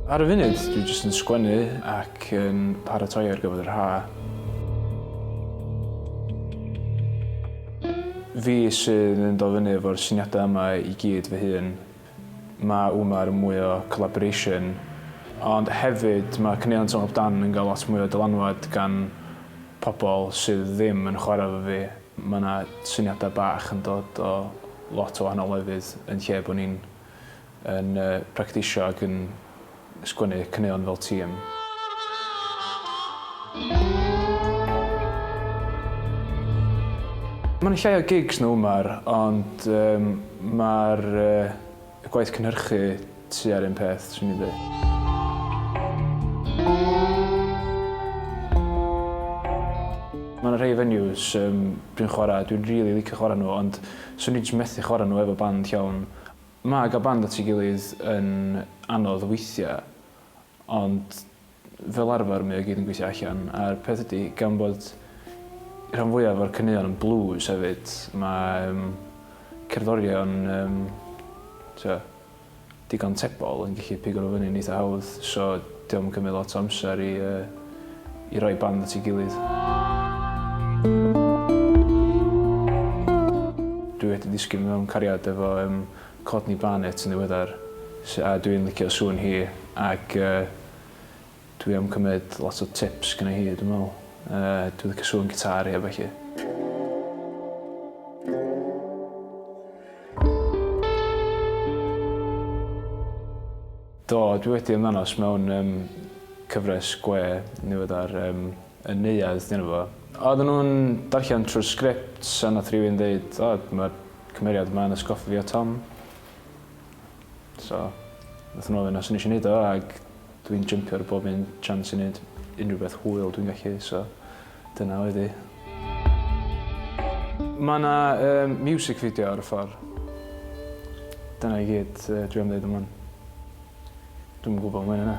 Ar y funud, dwi jyst yn sgwennu ac yn paratoi ar gyfer yr ha. Fi sydd yn dod fyny efo'r syniadau yma i gyd fy hun. Mae yma mwy o collaboration ond hefyd mae caneuon Twm Up Dan yn cael lot mwy o dylanwad gan pobl sydd ddim yn chwarae efo fi. Mae yna syniadau bach yn dod o lot o wahanol lefydd yn lle bod ni'n yn practisio ac yn sgwennu caneuon fel tîm. Mae'n llai o gigs na Umar ond yym mae'r yy gwaith cynhyrchu tua'r un peth swn i'n deu'. Ma' 'na rhei venues yym dwi'n chwara' dwi'n rili licio chwara' nhw ond swn i js methu chwara' nhw efo band llawn. Mae cael band at ei gilydd yn anodd weithiau, ond fel arfer mae o i gyd yn gweithio allan, a'r peth ydy, gan bod rhan fwyaf o'r caneuon yn blues hefyd, mae yym cerddorion yym t'wo' digon tebol yn gallu pigo nhw fyny'n eitha' hawdd, so Dio'm yn cymryd lot o amser i yy i roi band at ei gilydd. Dwi wedi disgyn mewn cariad efo yym Courtney Barnett yn ddiweddar sy- a dwi'n licio sŵn hi ac yy dwi am cymryd lot o tips gynna hi dwi'n me'wl. Yy dwi licio sŵn gitâr hi a ballu. Do, dwi wedi ymddangos mewn yym cyfres gwe niweddar yym Y Neuadd 'di enw fo. Oedden nhw'n darllen trwy'r sgript a nath rywun ddeud o ma'r cymeriad yma yn atgoffa fi o Tom. So nathon nhw ofyn os o'n i isio neud o ag dwi'n jympio ar bob un chance i neud unrhyw beth hwyl dwi'n gallu so Dyna oedd hi. Mae yna music video ar y ffordd. Dyna i gyd dwi am ddeud am hwn. Dwi'm yn gwybod mwy na 'na.